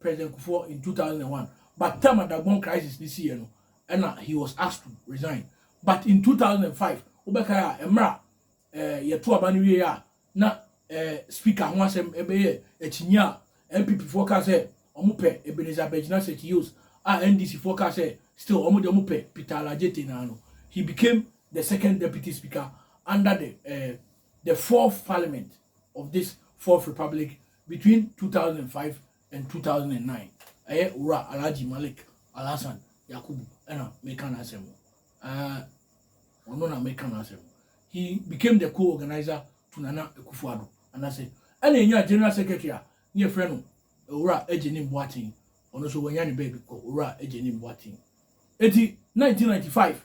President Kufuor in two thousand and one but term a Dagbon crisis ne siiɛ no ɛna he was asked to resign but in two thousand and five wobɛkae a mmerɛ a eh, yɛto aba no wieɛ a na eh, speaker ho asɛm ɛbɛyɛ akyinnye a NPP foɔ kaa sɛ wɔn pɛ Ebenezer Begyina Sekyiyos a NDC foɔ kaa sɛ still wɔn deɛ wɔn pɛ Peter Alajete naa no he became the second deputy speaker under the eh, the fourth parliament of this fourth republic Between two thousand and five and two thousand and nine, ɛyɛ Owura Alhaji Malik Alhassan Yakubu ɛna meka n'asɛm no. Ɛɛ ɔno na meka n'asɛm no. He became the co-organizer to Nana Akufo-Addo anase ɛna enya General Secretary a ne yɛfrɛ no Owura Agyenim Boateng ɔno nso wanya ne baabi kɔ Owura Agyenim Boateng. Enti nineteen ninety five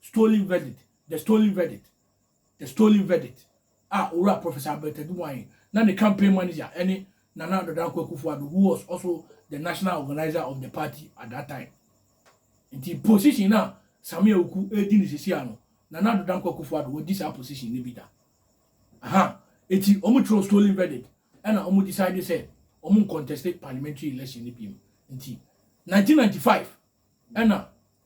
Stolen Verdict, The Stolen Verdict, The Stolen Verdict, a Owura Professor Albert Aduboahe na ne campaign manager ne Nana Ado Dankwa Akufo-Addo who was also the national organiser of the party at that time. Nti position no a Sammy Awuku redi no sesia no, Nana Ado Dankwa Akufo-Addo wadi saa position no bi da. Aha, eti wɔn twerɛw Stolen Verdict ɛna wɔn decide sɛ wɔn nconteste parliamentary election no biom. Nti 1995 ɛna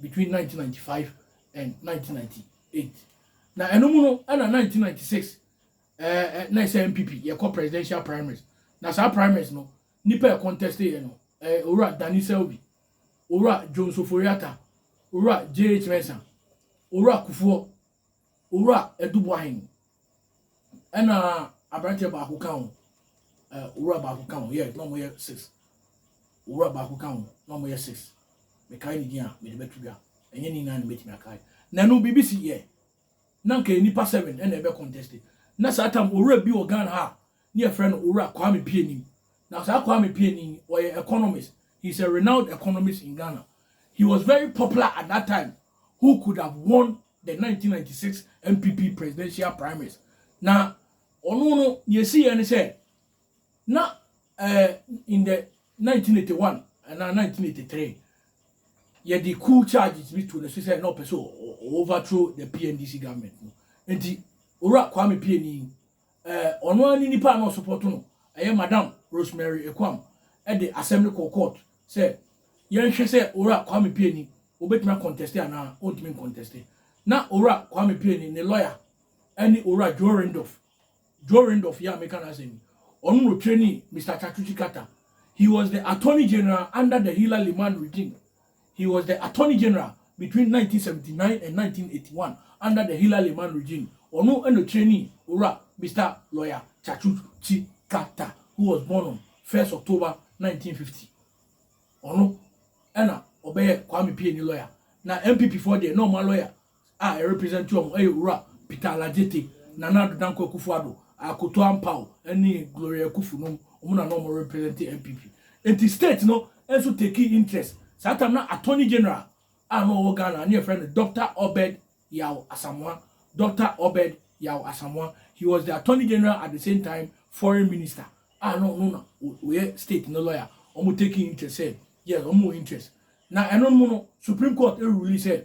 between nineteen ninety five and nineteen ninety eight na ɛno mu no ɛna nineteen ninety six ɛɛ ɛ na ɛsɛ npp yɛkɔ presidential primaries na saa primaries no nipa yɛ contest yɛ no ɛɛ owura danny selby owura john soforiata owura jh mensah owura kufuɔ owura edubuahin Ɛna aberanteɛ baako ka ho, eh, owura baako ka ho, yes, na wɔyɛ six. Owura baako ka ho, na wɔyɛ six. Mekae ne din a, mede bɛto dwa. Ɛnyɛ ne nyinaa na mɛtumi akae. Na ɛno, biribi si yɛ. Na nka nnipa seven ɛna ɛbɛ contest. Na saa tam, owura bi wɔ Ghana ha, ne yɛfrɛ no owura Kwame Pianim. Na saa Kwame Pianim, ɔyɛ economist. He's a renowned economist in Ghana. He was very popular at that time, who could have won the nineteen ninety six NPP presidential primaries. Na ɔno no nea ɛsiiɛ ne sɛ na eh, in the nineteen eighty one anaa nineteen eighty three yɛde coup charges bi to no so sɛ na ɔpɛ sɛ overthrow the PNDC government no nti owura Kwame Pieni Eh, ɔno ara ne nipa a na ɔsopɔto no, ɛyɛ Madam Rosemary Ekwam, de asɛm no kɔɔ court sɛ yɛnhwɛ sɛ Owura Kwame Pieni obetumi akɔntɛste anaa ontumi nkɔntɛste. Na Owura Kwame Pieni ne lɔya ne Owura Joe Rindorf, Joe Rindorf yi a meka n'asɛm yi, ɔno na ɔtrenii Mister Tsatsuki Kata. He was the Attorney General under the Hillary Limann regime. He was the Attorney General between nineteen seventy nine and nineteen eighty one under the Hilla Limann regime. Ɔno na ɔkyerɛnii Owura Mister Lawyer Chachut Tsikata who was born on first October nineteen fifty. Ɔno na ɔbɛyɛ Kwame Pieni lawyer. Na MPP foɔ deɛ na wɔn a lawyer a ɛ represent wɔn yɛ Owura Peter Aladzete, Nana Addo Dankwa Akufo Addo, Akoto Ampaw ne Gloria Akufu nom, wɔn na na wɔn represent NPP. Nti state no nso takee interest. Saa time na Attorney General a na ɔwɔ Ghana ne yɛfrɛ no Doctor Obed Yaw Asamoah, Doctor Obed Yaw Asamoah, he was the Attorney General at the same time Foreign Minister a na ɔno na ɔyɛ state no lawyer, wɔn takee interest sɛ yes wɔn wɔ interest. Na ɛno nom no Supreme Court rule sɛ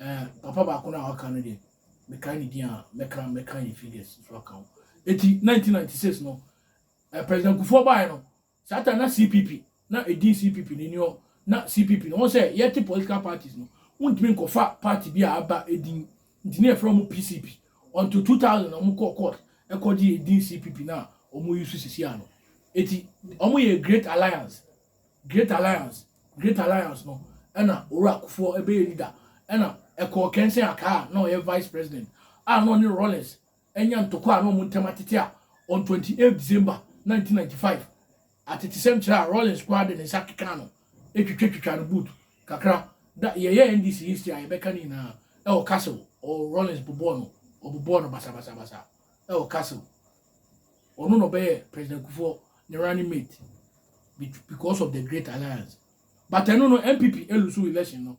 Eh, papa baako no a waka no deɛ, mekae ne din a, mɛka mɛka ne figures nso aka ho. Eti 1996 no, eh, President Kufuor baeɛ no, saa ta na CPP, na edin CPP no ni hɔ, na CPP no, wɔn sɛ yɛte political parties no, wontumi nkɔfa party bi a aba edin, nti ne yɛfrɛ wɔn PCP. Until 2000 na wɔn kɔɔ court ɛkɔgye edin CPP no a wɔn yi so sisi ano. Eti wɔn yɛ Great Alliance. Great Alliance, Great Alliance, no na Owura Kufuor bɛyɛ leader na ɛkɔɔ Kensing Akaa a na ɔyɛ Vice President a na ɔne Rawlings anya ntɔkwa a na wɔn ntam atete a on 28 December 1995 atetesɛm kyerɛ a Rawlings koraa de ne nsa kekaa no twitwatwitwa no boot kakra da yɛyɛ NDC history a yɛbɛka ne nyinaa ɛwɔ Castle ɔ Rawlings bobɔɔ no ɔbobɔɔ no basabasabasa ɛwɔ Castle Ɔno na ɔbɛyɛ President Kufuor ne running mate because of the great alliance. But ɛno no NPP elusu election no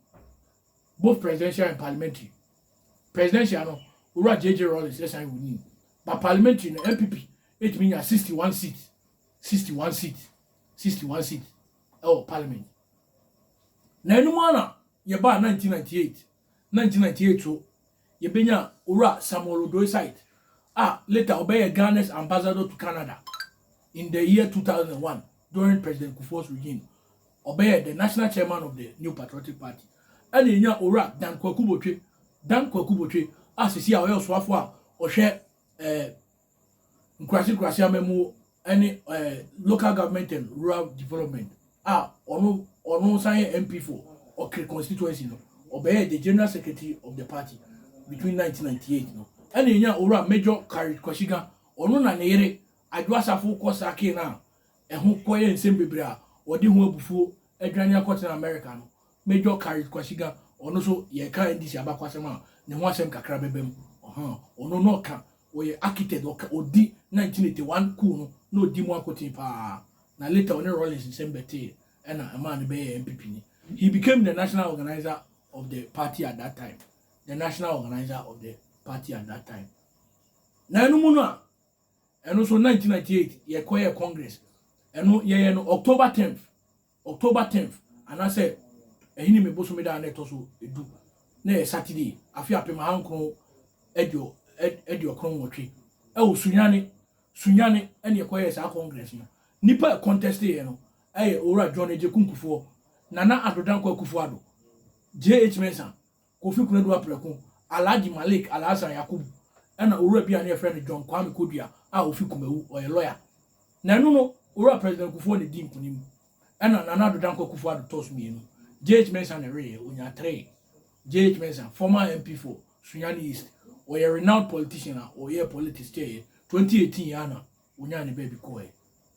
both presidential and parliamentary. Presidential no Owura JJ Rawlings ɛsan wini. But parliamentary no NPP etumi nya 61 seat 61 seat 61 seat ɛwɔ parliament. Na ɛno mu ara na yɛbaa 1998 1998 so, yɛbɛnyaa Owura Samuel Odoi Said a later ɔbɛyɛɛ Ghana's Ambassador to Canada in the year 2001 during President Kufuor's regime. Ɔbɛyɛɛ the National Chairman of the New Patriotic Party. Ɛna yɛnyaa Owura Dan Kwaku Botwe, Dan Kwaku Botwe a sisi a ɔyɛ ɔsoafoɔ a ɔhwɛ eh, nkurase nkurase amamuo ɛne ɛɛ eh, local government and rural development a ah, ɔno ɔno nsan yɛ mp for ɔkere constituency no ɔbɛyɛ the general secretary of the party between 1998 no ɛna enya owura major kari kwasiga ɔno na ne yere adwo asafo kɔ saa kee no a ɛho kɔyɛ nsɛm bebree a wɔde ho abufuo adwane akɔtena america no Major Carrick Kwasiga, ɔno nso yɛka NDC abakwasɛm a, ne ho asɛm kakra bɛba mu. Ɔhaa, ɔno na ɔka, ɔyɛ architect, ɔka, ɔdi 1981 coup no, na ɔdi mu akoten pa ara. Na later ɔne Rawlings nsɛm bɛtee, ɛna ɛmaa no bɛyɛɛ NPP ni. He became the national organiser of the party at that time, the national organiser of the party at that time. Na ɛno mu no a, ɛno nso 1998 yɛkɔyɛɛ congress, ɛno yɛyɛ no October 10th, October tenth, anaasɛ Ahinime bosome da a na ɛtɔ so du, na ɛyɛ Saturday, afe apem ahankron aduo aduokron nwɔtwe. Ɛwɔ Sunyani, Sunyani, ɛna yɛkɔyɛɛ saa Congress no. Nnipa a ɛkɔntɛsteeɛ no ɛyɛ Owura John Agyeku Nkufoɔ, Nana Addo Dankwa Akufo-Addo, JH Mensah, Kofi Konadu Aprɛko, Alhaji Malik Alhassan Yakubu na owura bi a ne yɛfrɛ no John Kwame Kodua a ofi Kumawu, ɔyɛ lɔya. Na ɛno no, Owura President Kufuor na edii nkunim ɛna Nana Addo Dankwa Akufo-Addo tɔɔ so mmienu. JH Mensah na ɛweeɛ, onyaa three. JH Mensah, former MP for Sunyani East, ɔyɛ renowned politician a ɔyɛɛ politics kyɛeɛ, 2018 Ghana Wonyaa ne baabi kɔɔɛ.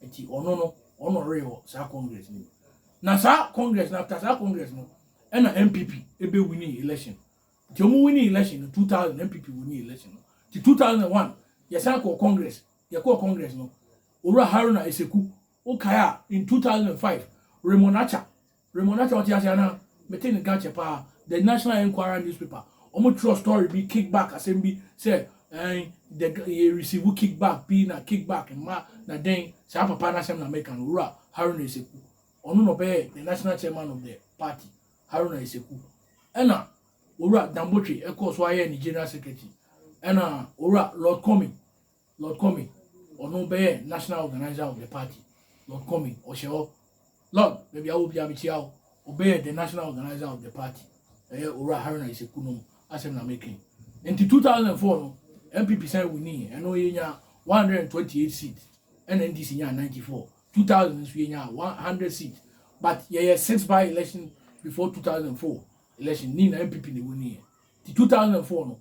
Nti ɔno no, ɔno na ɔreyɛ wɔ saa Congress no mu. Na saa Congress no, after saa Congress no, ɛna NPP ebe winning election. Nti ɔmo winning election no, 2000 NPP winning election no. Nti 2001, yɛsan kɔɔ Congress, yɛkɔɔ Congress no, Owura Haruna Eseku, wokae a, in 2005, Raymond Acha, Raymond na kyɛ ɔte ase anaa? Mete nka kyɛ paa The National Enquirer newspaper ɔmo twerɛ story bi kick back asɛm bi sɛ ɛɛn the yɛ receive kick back bi na kick back mma na dɛn saa papa no asɛm na meka no Owura Haruna Eseku ɔno na ɔbɛyɛ the national chairman of the party Haruna Eseku ɛna Owura Dambotwe ɛkɔɔ so ayɛ ne general secretary ɛna Owura Lord Kwame Lord Comey, ɔno bɛyɛ National Organiser of the Party, Lord Comey, ɔhyɛ hɔ. Lord, baabi a wɔ biara mekyia wo. Ɔbɛyɛ the National Organiser of the Party. Ɛyɛ Owura Haruna Iseku no asɛm na meka yi. Nti 2004 no, NPP san winii, ɛno yɛnya 128 seat, ɛna NDC nyaa 94. 2000 nso yɛnya 100 seat, but yɛyɛ six by election before 2004 election, ne nyinaa NPP na ɛwiniiɛ. Nti two thousand and four no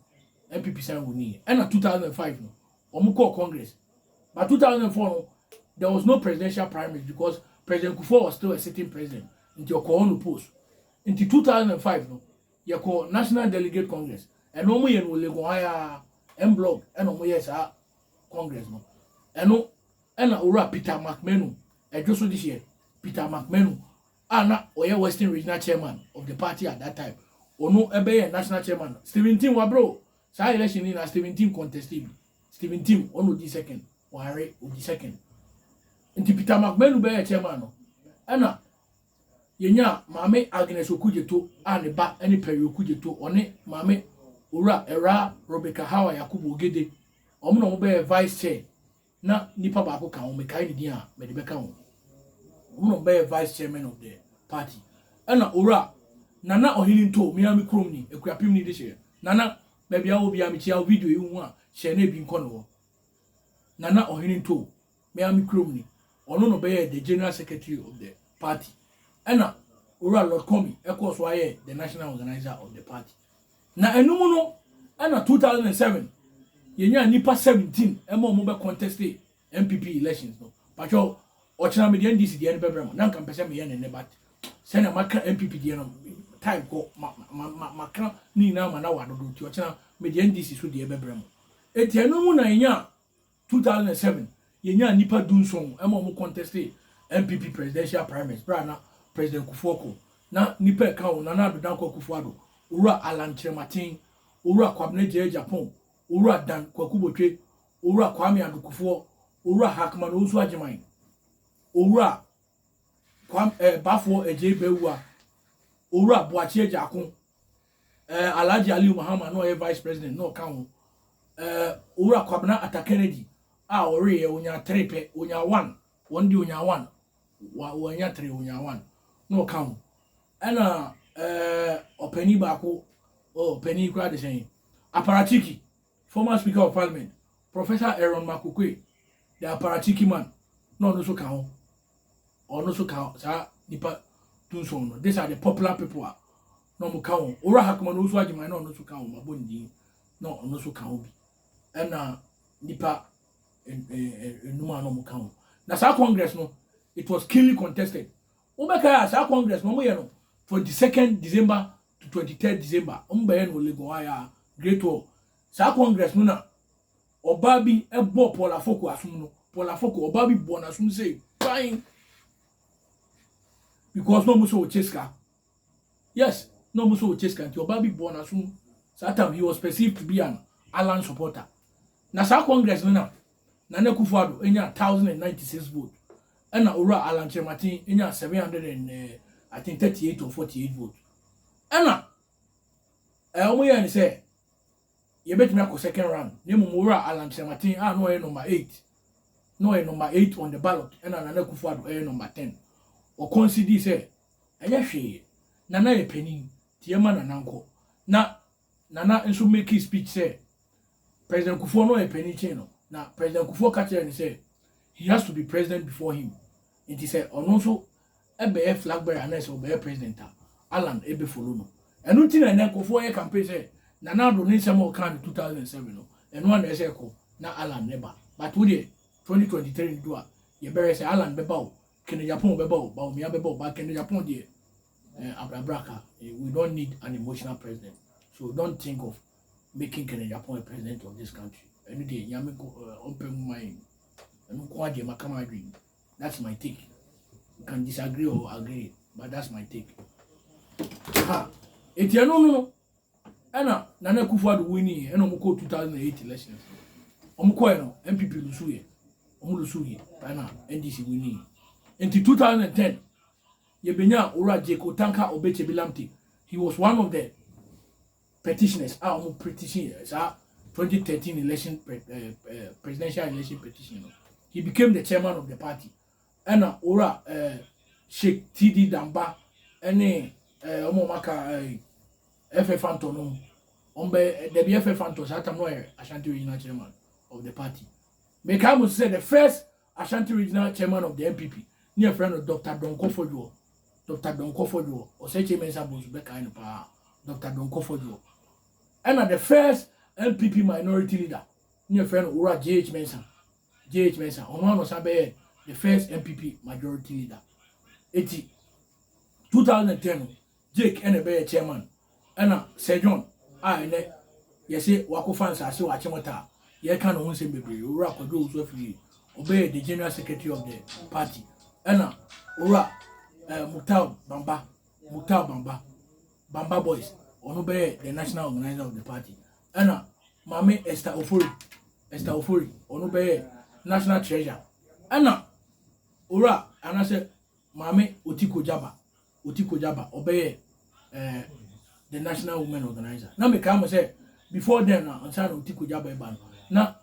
NPP san winnie ɛna two thousand and five no wɔn kɔɔ congress but two thousand and four no there was no presidential primaries because president kufuor was still a sitting president nti ɔkɔɔ hɔ no post nti two thousand and five no yɛkɔɔ national delegate congress ɛno wɔn yɛ no wɔ legon ha yaa ɛn blog ɛna wɔn yɛ saa congress no ɛno ɛna owura peter mcmenu ɛdwo so de hyɛ peter mcmenu a na ɔyɛ Western Regional Chairman of the party at that time, ɔno bɛyɛɛ National Chairman no, Stephen Tim wabrɛ o. Saa election no nyinaa Stephen Tim contested bi. Stephen Tim, ɔno na ɔdii second, Wanre ɔdi second. Nti Peter McManu bɛyɛɛ chairman no, ɛna yɛnyaa Maame Agnes Okudzeto a ne ba ne Perry Okudzeto, ɔne Maame Owura Ɛwraa Rebecca Hawa Yakubu Ogede, wɔn na wɔbɛyɛɛ vice chair. Na nipa baako ka ho, mekae ne din a, mede bɛka ho. Wɔn na wɔbɛyɛ vice chairman of the party. Ɛna Owura Nana Ɔhene Ntoo, me ara me kurom ni, Akuapem ni de hyɛɛ. Nana, baabi a wowɔ biara mekyia wo, video yi wohu a, hyɛ na ebi nkɔ ne hɔ. Nana Ɔhene Ntoo, me ara me kurom ni. Ɔno na ɔbɛyɛɛ the general secretary of the party. Ɛna Owura Lord Komi kɔɔ so ara yɛɛ the national organiser of the party. Na ɛno mu no ɛna two thousand and seven yɛnyaa nnipa seventeen ɛma ɔmo bɛ conteste NPP elections no. Patwɛ ɔkyena me deɛ NDC deɛ no bɛbrɛ mo na nka mpɛ sɛ meyɛ ne nne but sɛnea maka NPP deɛ no time kɔ ma ma ma maka ne nyinaa ma na wadodo nti ɔkyena me deɛ NDC so deɛ bɛbrɛ mo. Enti ɛno mu na yɛnyaa Two thousand and seven, yɛnyaa nnipa du nson ma wɔn kɔntɛstee NPP presidential primaries berɛ a na President Kufuor kɔ. Na nnipa a ɛka ho, Nana Addo Dankwa Akufo-Addo, Owura Allan Kyerematen, Owura Kwabena Gyei Agyapong, Owura Dan Kwaku Botwe, Owura Kwame Addo Kufuor, Owura Hackman Owusu Agyemang, Owura Kwam eh, Bafoɔ Agyei Bawuah, Owura Boakye Agya Ako, eh, Alhaji Aliyu Mahama na ɔyɛ Vice President na ɔka ho, eh, Owura Kwabena Atakeredi a ɔweeɛ ɔnyaa three pɛ, ɔnyaa one, wɔn de ɔnyaa one, wɔanya three, ɔnyaa one na ɔka ho. Ɛna eh, ɔpanin baako, oh, ɔpanin koraa de sɛn, Aparatiki, Former Speaker of Parliament, Professor Aaron Makukwe, the Aparatchiki man, na ɔno nso ka ho. Ɔno nso ka saa nipa dunson no. These are the popular people a na wɔn ka wɔn. Owura Hakman Owusu Agyeman na ɔno nso ka wɔn abɔ ne din na ɔno nso ka ho bi. Ɛna nipa enum a na wɔn ka ho. Na saa congress no it was keenly contested. Wobɛka a saa congress no wɔn yɛ no 22nd December to twenty third December ɔmo bɛyɛ no wɔ Lagos hɔ ayɛ a great hall saa congress no na ɔbaa bi ɛbɔ Paul Afoko asom no Paul Afoko ɔbaa bi bɔ n'asom sei kwan because na ɔmo sɛ ɔkyɛ sika yes na ɔmo sɛ ɔkyɛ sika nti ɔbaa bi bɔ n'asom saa time he was perceived to be an Allan supporter na saa congress no na Nana Akufo-Addo nyaa one thousand and ninety six vote ɛna Owura Alan Kyerematen nyaa seven hundred and I think thirty eight or forty eight vote ɛna ɛɛ wɔn yɛɛ ne sɛ yɛbɛtumi akɔ second round na mmom Owura Alan Kyerematen a na ɔyɛ number eight na ɔyɛ number eight on the ballot ɛna Nana Akufo-Addo ɛyɛ number ten ɔkɔnsidii sɛ ɛnyɛ hwee Nana yɛ panin nti yɛma Nana nkɔ na Nana nso makii speech sɛ President Kufuor na ɔyɛ panin kyen no, na President Kufuor ka kyerɛɛ no sɛ he has to be president before him, nti sɛ ɔno nso bɛyɛ flag bearer anaasɛ ɔbɛyɛ president a, Allan bɛ follow no. Ɛno nti na ɛnɛ nkurɔfoɔ yɛ campaign sɛ Nana Addo ne nsɛm a ɔkaa no 2007 no, ɛno ara na ɛsɛ ɛkɔ na Allan ne ba. But wo deɛ 2023 no du a, yɛbɛhwɛ sɛ Allan bɛba o, Kennedy Apongo bɛba o, Bawumia bɛba o, but Kennedy Apongo deɛ Eh, abrabraka, eh, we don't need an emotional president. So don't think of making Kenneth Agyapong a president of this country. Ɛno deɛ nyame eh, ɔmpɛ mu ma yɛn. Ɛno nko adeɛ maka ma adwene. That's my take. You can disagree or agree, but that's my take. Ha, eti ɛno no no, ɛna Nana Akufo-Addo winning yɛ, ɛna wɔn kɔ 2008 elections. Wɔn kɔɛ no, NPP lusu yɛ, wɔn lusu yɛ, ɛna NDC winning yɛ. Nti 2010, Yɛbɛnyaa Owura Jeko Tanka Obetsebi Lamptey, he was one of the petitioners a wɔn petition saa 2013 election presidential election petition no. He became the chairman of the party. Ɛna Owura Sheikh TD Damba ɛne wɔn wɔn aka FF Antɔ no mu. Wɔn bɛ dɛbi FF Antɔ saa tam no yɛ Ashanti regional chairman of the party. Mekae mo sɛ the first Ashanti Regional Chairman of the NPP ne yɛfrɛ no Doctor Donkor Fodwoɔ, Doctor Donkor Fodwoɔ, Osei Mensah Bonsu bɛkae no paa, Doctor Donkor Fodwoɔ. Ɛna the first NPP minority leader ne yɛfrɛ no Owura JH Mensah, JH Mensah, ɔno ano san bɛyɛ the first NPP majority leader. Eti 2010 no, Jake na ɛbɛyɛ chairman ɛna Sir John a ɛnɛ yɛse wakofa nsase wɔ Akyemota a yɛka ne ho nsɛm bebree, Owura Kwadwo Owusu-Afiri ɔbɛyɛ the general secretary of the party ɛna Owura eh, Muktar Bamba, Muktar Bamba, Bamba Boys ɔno bɛyɛ the national organizer of the party ɛna Maame Esther Ofori, Esther Ofori ɔno bɛyɛ national treasurer ɛna Owura anasɛ Maame Otiko Jaba Oti Kogya ba, ɔbɛyɛ eh, the national women organizer. Na mekae mo sɛ before then na nsa na Oti Kogya bɛba no na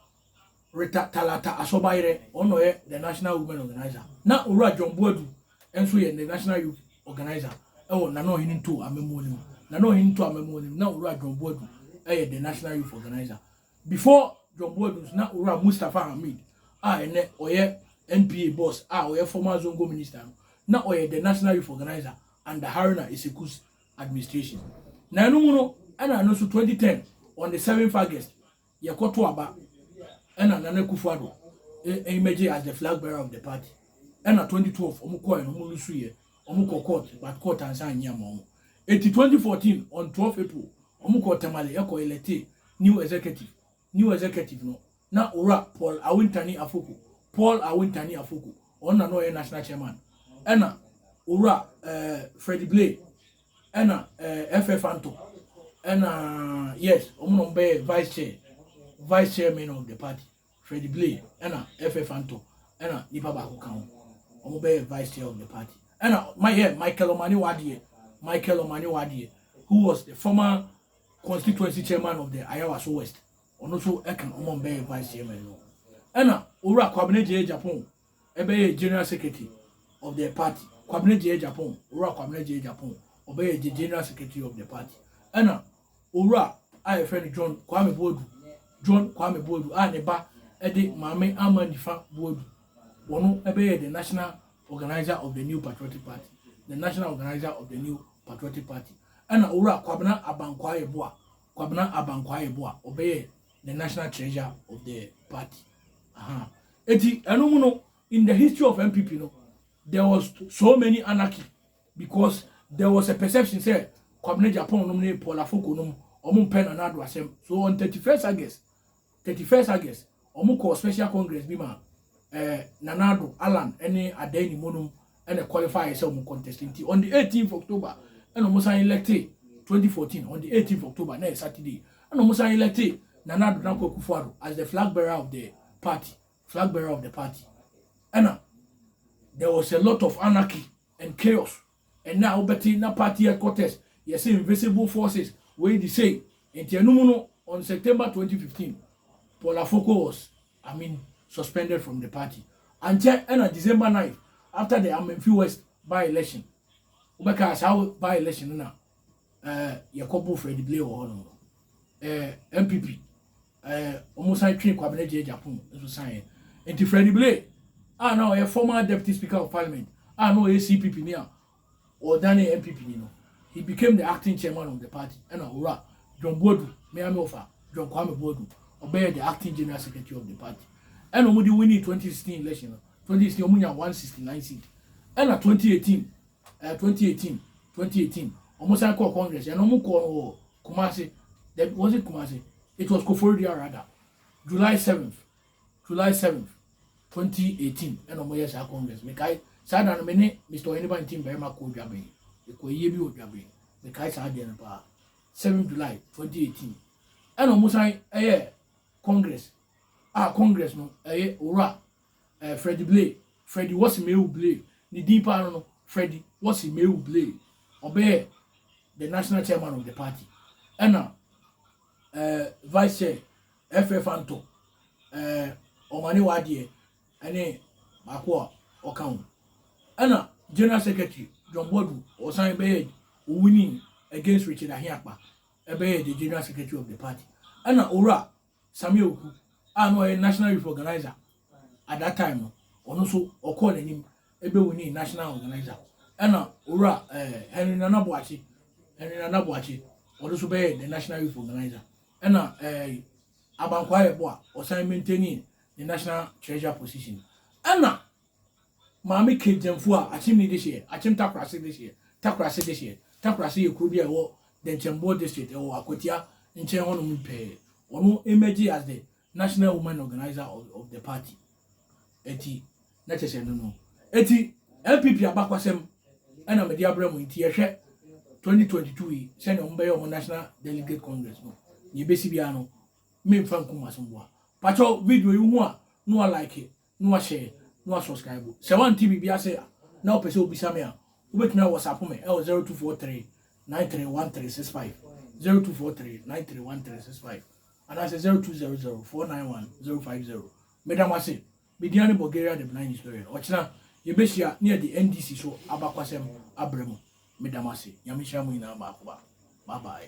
Rita Talata Asɔbayerɛ ɔno na ɔyɛ the national women organizer. Na Owura John Boadu nso yɛ the national youth organizer ɛwɔ Nana Ɔhene Nto Amamuo no mu. Nana Ɔhene Nto Amamuo no mu na Owura John Boadu ɛyɛ the national youth organizer. Before John Boadu nso na Owura Mustapha Hamid a ɛnnɛ ɔyɛ NPA boss a ɔyɛ former Zongo minister no na ɔyɛ the National Youth Organiser under Haruna Iseku's administration. Na ɛno mu no ɛna ɛno nso 2010 on the 7th August yɛkɔto aba ɛna Nana Akufo-Addo emerge as the flag bearer of the party ɛna 2012 wɔn kɔɛ no wɔn lusu yɛ Ɔmo kɔ court but court ansa anyi ama ɔmo. Eti twenty fourteen on twelve April ɔmo kɔɔ Tamale ɛkɔ electe new executive. New executive no na Owura Paul Awentani Afoko, Paul Awentani Afoko, ɔno na na ɔyɛ national chairman. Ɛna Owura eh, Freddy Blay ɛna eh, FF Anto ɛna yes ɔmo na ɔmo bɛyɛ vice chair, vice chairman of the party. Fred Blay ɛna Efe Fanto ɛna nipa baako ka ho. Wɔn bɛyɛ vice chair of the party. Ɛna my yɛ Michael Omane Wadeɛ, Michael Omane Wadeɛ, who was the former constituency chairman of the Ayawaso West. Ɔno nso ɛka wɔn bɛyɛ vice chairman no. Ɛna Owura Kwabena Gyei Agyapong Ɛbɛyɛ General Secretary of the party Kwabena Gyei Agyapong Owura Kwabena Gyei Agyapong ɔbɛyɛ the General Secretary of the party ɛna Owura a yɛfrɛ no John Kwame Boadu John Kwame Boadu a ne ba ɛde Maame Ama Nifa Boadu wɔno ɛbɛyɛ the National Organizer of the New Patriotic Party the National Organizer of the New Patriotic Party ɛna Owura Kwabena Abankwaa Yeboah Kwabena Abankwaa Yeboah ɔbɛyɛ the National Treasurer of the party aha Enti ɛno mu no in the history of NPP no there was so many anarchy because there was a perception sɛ Kwabena Agyapong nom ne Paul Afoko nom ɔmo mpɛ Nana Addo asɛm. So on 31st August, 31st August, ɔmo kɔɔ special congress bi ma eh, Nana Addo, Allan ne Adan Nimo nom ɛna qualify sɛ wɔn contest nti on the eighteenth october ɛna wɔn san electe twenty fourteen on the eighteenth october na yɛ saturday ɛna wɔn san electe nana ado nako akufo ado as the flag bearer of the party flag bearer of the party ɛna there was a lot of anarchy and chaos ɛna a wobɛte na party headquarters yɛsɛ invisible forces wei de sei nti ɛno mu no on september twenty fifteen paul afoko was I mean suspended from the party ankyɛ ɛna December night after the Amenfi West by election wobɛka saa by election no na ɛɛ eh, yɛkɔbo Fred Blay wɔ hɔ nom no ɛɛ eh, MPP ɛɛ eh, wɔn san twe Kwabena Gyei Gyapong nso san yɛ nti Fred Blay a na ɔyɛ former deputy speaker of parliament a na ɔyɛ CPP ni a Ɔdanee NPP ni no, he became the acting chairman of the party ɛna Owura John Boadu, me ara me wɔfa, John Kwame Boadu, ɔbɛyɛɛ the acting general secretary of the party. Ɛna wɔde winii 2016 election no, 2016 wɔnyaa 169 seat. Ɛna 2018, ɛɛ 2018, 2018 wɔsan kɔɔ Congress, ɛna wɔkɔɔ no wɔ Kumasi, was it Kumasi? It was Koforidua rather, July 7th. July seventh, twenty eighteen ɛna wɔn yɛ saa congress. Mekae saa da no me ne Mr. Ɔheniba nti mmarima kɔɔ Dwaben. Ekɔ ayie bi wɔ Dwaben. Mekae saa deɛ no paa. Seventh July twenty eighteen ɛna wɔn san ɛyɛ congress a ah, congress no ɛyɛ owura ɛɛ eh, Freddie Blay Freddie wɔsi mewu Blay ne din paa no no Freddie wɔsi mewu Blay ɔbɛyɛ the national chairman of the party ɛna ɛɛ eh, vice chair Ɛfrɛ fa ntɔ ɛɛ ɔmane w'adeɛ ɛne baako a ɔka ho. Ɛna General Secretary John Boadu ɔsan bɛyɛ owinning against Richard Ahiakpa ɛbɛyɛ the General Secretary of the party. Ɛna Owura Sammy Awuku a na ɔyɛ National Youth Organizer at that time no ɔno nso ɔkɔɔ n'anim ɛbɛwinning National Organizer. Ɛna Owura ɛɛ Henry Nana Boakye Henry Nana Boakye ɔno nso bɛyɛ the National Youth Organizer. Ɛna ɛɛ Aban Kwaayɛ boa ɔsan maintaini ne national treasurer position. Ɛna Maame Kate Gyamfu a Akyem ne dehyeɛ, Akyem Takorase dehyeɛ, Takorase dehyeɛ, Takorase yɛ kuro bi a ɛwɔ Dɛnkyɛmboɔ district, ɛwɔ Akwatia nkyɛn hɔnom pɛɛ. Ɔno emergee as the National Women Organiser of the party eti na kyɛ sɛ no no eti NPP abakwasɛm ɛna mede abrɛ mo nti yɛhwɛ 2022 yi sɛnea wɔn bɛyɛ wɔn National Delegate Congress no yɛbɛsi biara no memfa nkum asomboa pakyɛw video yi ho a na wa like na washare na wa subscribe. Sɛ wante biribi ase a na wopɛ sɛ wobisa me a, wobɛtumi a WhatsApp me ɛwɔ 0243 931365 0243 931365 anaasɛ 0200 491 050. Meda mo ase. Me din ane Bulgaria the Benign Historian. Ɔkyena yɛbɛhyia na yɛde NDC so abakwasɛm abrɛ mu. Meda mo ase. Nyame nhyira mo nyinaa baako baako. Bye bye.